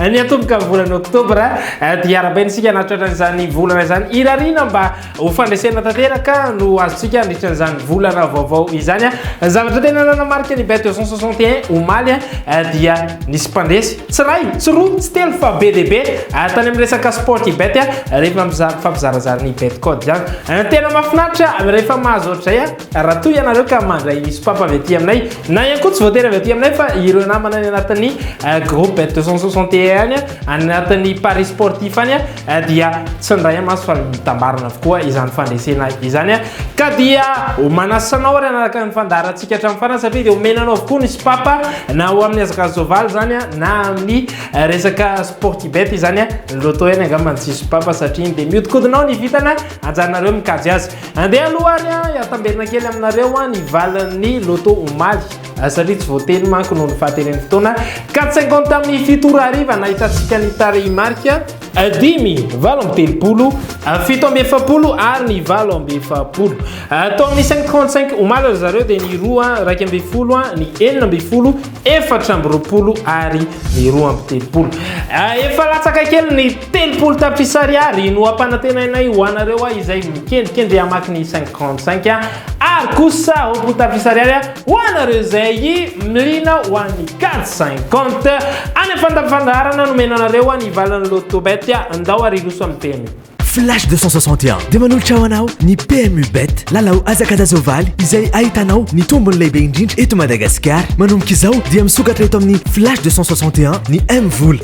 Ny atomboka amin'ny volana oktobra dia arabaina isika na tratra izany volana izany irariana mba ho fandresena tanteraka no azontsika andritra izany volana vaovao izany zavatra tena nanamarika ny bet 261 omaly dia nisy mpandresy tsy ray tsy roa tsy telo fa be dia be tany amin'ny resaka sport i bet rehefa mizary fampizarazary ny bet code izany tena mafinatra rehefa mahazo ohatr'izay Raha toa ianareo ka mandray sopapa avy aty aminay, na ihany koa tsy voatery avy aty aminay fa ireo namana any anatin'ny eh, groupe 261 any, any anatin'ny Paris sportif any, eh, dia tsindray amaso fa mitambarana avokoa izany fandresena izany. Ka dia manasa anao ary anaraka ny fandaharantsika hatramin'ny farany satria dia omena anao avokoa ny sopapa na ho amin'ny hazakazaka soavaly izany na amin'ny eh, resaka sportibet izany. Loto ihany angamba ny tsy sopapa satria dia mihodinkodinao ny vitana ajanareo mikajy azy. Andeha aloha ary an, hiatamberina kely aminareo an ny valin'ny loto omaly satria tsy voateny manko noho ny fahateren'ny fotoana ka cinquante tamin'ny fito ora hariva nahitantsika ny tarehimarika dimy, valo amby telopolo, fito amby efapolo ary ny valo amby efapolo. Tao amin'ny cinq trente cinq omaly ry zareo dia ny roa raika amby folo, ny enina amby folo, efatra amby roapolo ary ny roa amby telopolo. Efa latsaka kely ny Telopolo tapitrisa ariary no ampanantenainay ho anareo a izay mikendrikendry hamaky ny 55 a ary kosa roapolo tapitrisa ariary a ho anareo izay miliana ho an'ny 450 any amin'ny fandafandaharana nomena anareo a ny valin'ny loto bet a ndao ary hiroso amin'ny PMU. Flash 261 dia manolotra ho anao ny PMU bet lalao hazakazazao-valy izay ahitanao ny tombony lehibe indrindra eto Madagasikara manomboka izao dia misokatra eto amin'ny Flash 261 ny M vola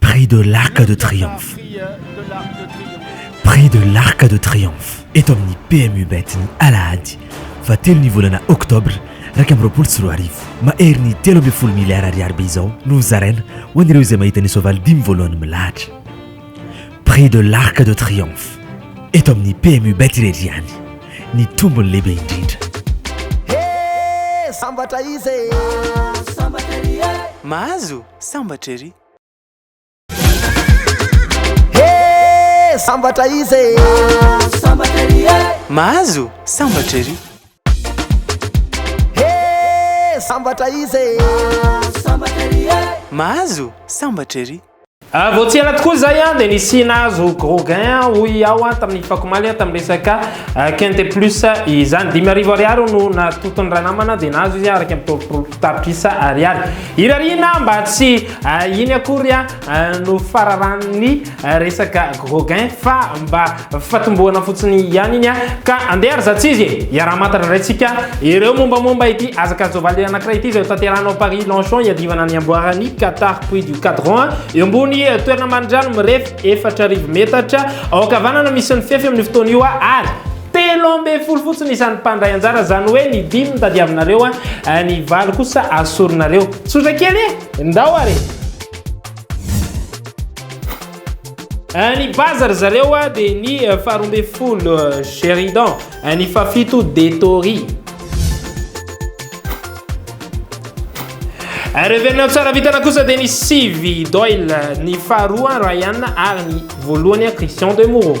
Prix de l'Arc de Triomphe Prix de l'Arc de Triomphe eto amin'ny PMU Bet ny alahady fahatelo ny volana oktobra iraika amby roapolo sy roa arivo. Mahery ny telo ambin'ny folo miliara ariary be izao no hozaraina ho an'ireo izay mahita ny soavaly dimy voalohany milahatra. Prix de l'Arc de Triomphe eto amin'ny PMU Bet irery ihany ny tombony lehibe indrindra. He! Sambatra izy e! Mahazo sambatra ery! sambatra izy e sambatra ery e mahazo sambatra ery he sambatra izy e sambatra ery e mahazo sambatra ery Ah, vao tsy ela tokoa izay an dia nisy nahazo groguin hoy aho an tamin'ny fakomaly an tamin'ny resaka ah, quinte plus izany dimy arivo ariary no natotony ranamana dia nahazo izy araka amin'ny taolopolo Tapitrisa ariary. Irariana mba tsy iny akory no fararan'ny resaka Gauguin fa mba fatombohana fotsiny ihany iny ka andeha ary zatsizy e! Iaraha-mantatra indray tsika ireo mombamomba ity hazakajovaly anankiray ity izay ho tanterahana ao Paris Longchamp hiadivana ny amboaran'ny Qatar Puy du Cadran eo ambony toerana marindrano mirefy efatra arivo metatra ao ankavanana misy ny fefy amin'ny fotoana io ary Telo ambin'ny folo fotsiny isan'ny mpandray anjara, izany hoe ny dimy tadiavinareo, ny valo kosa asorinareo. Tsotra kely e! Ndao ary e! Eh, ny baza ry zareo a dia ny eh, faharoa ambin'ny folo eh, Sheridan, ny fahafito Detori. Revenao tsara vitana kosa dia ny sivy Doyle, ny faharoa Ryan ary ny voalohany Christian de Moreau.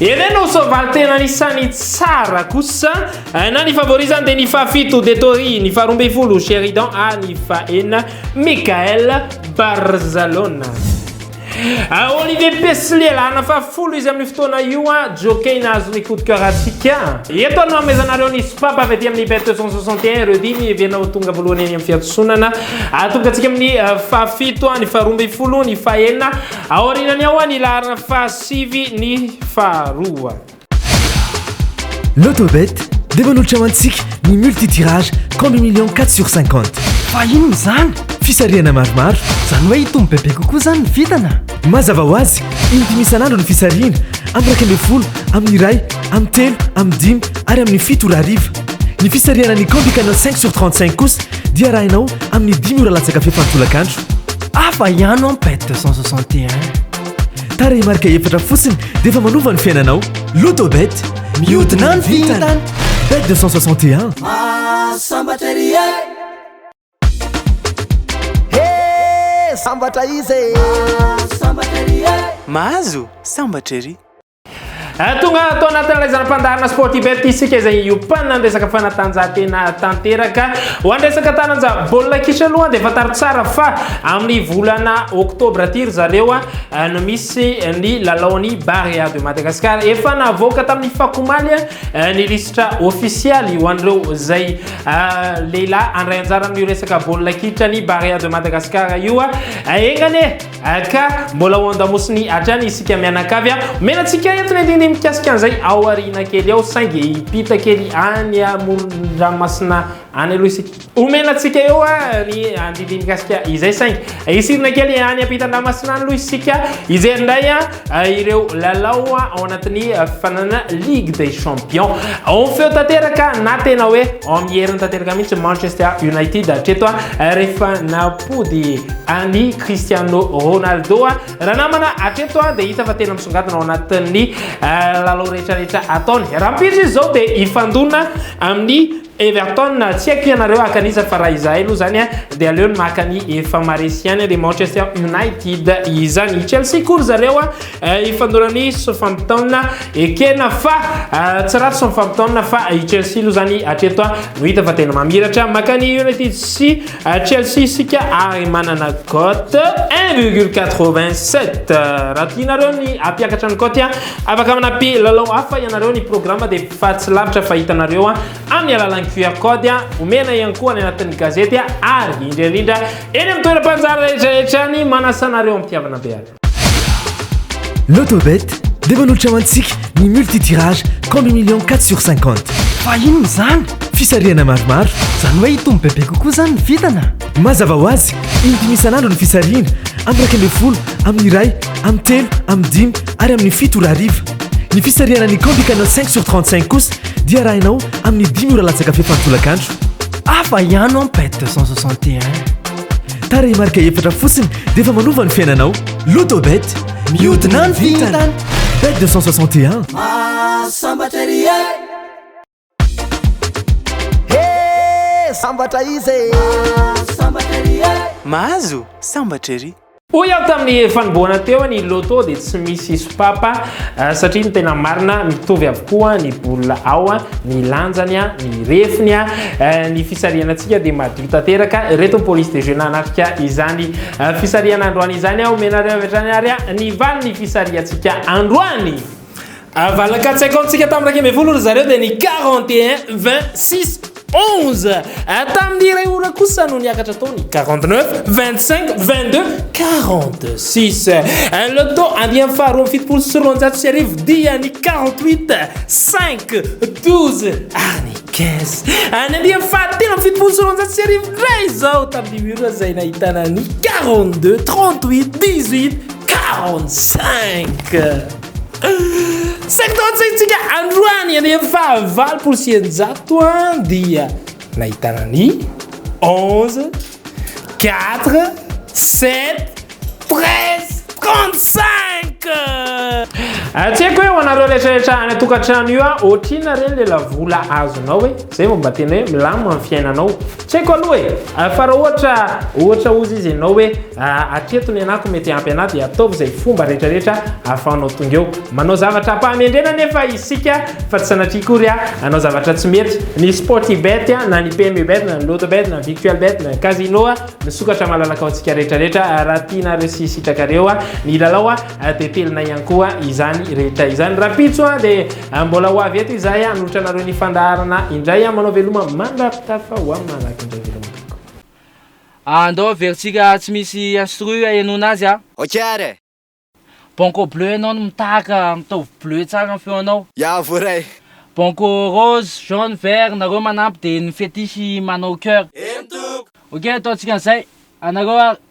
Ere no soavaly tena anisan'ny tsara kosa na ny favori zany dia ny fahafito Detori, ny faharoa ambin'ny folo Sheridan ary ny fahenina Michael Barzalona. Ah, Olivier Pesly alana fahafolo izy amin'ny fotoana io a ah, jockey nahazo ny coup de cœur antsika. Eto ary no amezanareo ny sopap avy aty amin'ny bet 261 ireo dimy heverina ho tonga voalohany any amin'ny fiatsonana. Atonga ah, antsika amin'ny fahafito, ny faharoa ambin'ny folo, ny fahenina. Aorianany ao ny laharana fahasivy. Sivy ny faharoa. Lotobet dia manolotra ho antsika ny multi-tirage combi million 4 sur 50. Fa inona izany? Fisarihana maromaro. Izany hoe hitombo bebe kokoa izany ny vintana? Mazava ho azy, in-dimy isan'andro ny fisarihana, amin'ny iraika ambin'ny folo, amin'ny iray, amin'ny telo, amin'ny dimy ary amin'ny fito ora hariva. Ny fisarihana ny combi canal cinq sur trente cinq kosa dia arahinao amin'ny dimy ora latsaka fefany tolakandro. Hafa ihany an bet deux cent soixante et un. Tarehimarika efatra fotsiny dia efa manova ny fiainanao. Lotobet, mihodina ny vintana. Bet 261. Sambatra ry e. He, sambatra izy e. Sambatra ry e. Mahazo, sambatra ry. Eh, tonga ato anatin'ilay zana-pandaharana sportibet isika izay hiompanana ny resaka fanatanjahantena tanteraka ho an'ny resaka taranja baolina kitra aloha dia fantaro tsara fa amin'ny volana oktobra aty ry zareo eh, no misy ny lalaon'ny Barea de Madagascar efa navoaka tamin'ny fakomaly eh, ny lisitra ofisialy ho an'ireo izay lehilahy andray anjara amin'io resaka baolina kitra ny Barea de Madagascar io enganie HK, Mbola ao an-damosiny hatrany isika mianakavy a! Omena antsika eto ny andinindiny mikasika an'izay ao aoriana kely ao saingy hiampita kely any amoron-dranomasina any aloha isika. Omena antsika eo ny andinindiny mikasika izay saingy hisirina kely any ampitan-dranomasina any aloha isika hijery indray a! ireo lalao ao anatin'ny fifanana Ligue des Champions. Ao feo tanteraka na tena hoe ao amin'ny heriny tanteraka mihitsy Manchester United hatreto rehefa nampody an'i Cristiano Ronaldo. Raha namana hatreto dia hita fa tena misongadina ao anatin'ny lalao rehetra rehetra ataony. Rahampitso izy izao dia hifandona amin'ny Everton, tsy haiko ianareo haka an'iza fa raha izahay aloha izany dia aleo ny maka ny efa maresy ihany dia Manchester United izany. Chelsea koa ry zareo hifandona ny Southampton ekena fa tsy ratsy Southampton fa i Chelsea aloha izany hatreto no hita fa tena mamiratra. Maka ny United sy Chelsea isika ary manana cote 1,87 raha tianareo ny hampiakatra ny cote afaka manampy lalao hafa ianareo ny programme dia fa tsy lavitra fa hitanareo amin'ny alalan'ny QR code omena ihany koa any anatin'ny gazety ary indrindra indrindra eny amin'ny toeram-panjary rehetra rehetra any manasa anareo amitiavana be ary Lotobet dia manolotra ho antsika ny multitirage combi million 4 sur 50 fa inona izany fisarihana maromaro izany hoe hitombo bebe kokoa izany ny vintana Mazava ho azy, indimy isan'andro ny fisarihina, amin'ny iraika ambin'ny folo, amin'ny iray, amin'ny telo, amin'ny dimy ary amin'ny fito ora hariva. Ny fisarihana ny Candy Canal 5 sur 35 kosa dia arahinao amin'ny dimy ora latsaka fepany tolakandro. Hafa ihany ao Pet 261. Tarehimarika efatra fotsiny dia efa manova ny fiainanao. Lotobet, mihodina ny vintana. Bet 261. Mahasambatra ery e! Hee sambatra izy e! Mahazo sambatra ery e! Mahazo sambatra ery! Hoy aho tamin'ny fanombohana teo ny loto dia tsy misy sopapa eh, satria ny tena marina mitovy avokoa ny bola ao, ny lanjany, ny refiny, eh, ny fisarihana antsika dia madio tanteraka. Ireto ny police de jeu nanatrika izany eh, fisarihana androany izany. Omenareo avy hatrany ary ny valin'ny fisarihantsika androany. Valiny quatre cinquante tsika tamin'ny iraika ambin'ny folo ry zareo dia ny quarante et un vingt six onze tamin'ny iray ora kosa no niakatra tao ny quarante neuf vingt cinq vingt deux quarante six le temps andiany faharoa amin'ny fitopolo sy roanjato sy arivo dia ny quarante huit cinq douze any quinze any andiany fahatelo amin'ny fitopolo sy roanjato sy arivo ray izao tamin'ny mura izay nahitana ny quarante deux trente huit dix huit quarante cinq Saintontsika androany any amin'ny fahavalopolo sy eninjato dia nahitana ny onze, quatre, sept, treize, trente cinq. Tsy haiko hoe ho anareo rehetra rehetra any an-tokantrano io, ohatrinona re le lavola azonao hoe zay vao mba tena hoe milamina ny fiainanao. Tsy haiko aloha e! Fa raha ohatra, ohatra ozy izy ianao hoe hatreto ny anako mety ampy anà dia ataovy izay fomba rehetra rehetra ahafahanao tonga eo. Manao zavatra am-pahamendrena anefa isika fa tsy sanatria akory hanao zavatra tsy mety. Ny Sportybet na ny PMUbet na ny Lotobet na ny Victualbet na ny Casino misokatra malalaka ho antsika rehetra rehetra raha tianareo sy sitrakareo ny hilalao. Tetelinay ihany koa izany rehetra izany. Rapitso a, dia ah, mbola ho avy eto izahay hanolotra ah, anareo ny fandaharana indray. Ah, manao veloma mandrapitafa ho amin'ny malaky indray veloma tompoko. Andao averintsika tsy misy instru ahenoana azy a. Ok ary. Banco bleu ianao no mitahaka, mitovy bleu tsara ny feonao. Ya voaray. Banco rose, jaune, vert, nareo manampy dia ny fetiche manao cœur. Eny tompoko. Ok ataontsika an'izay. Anareo ary.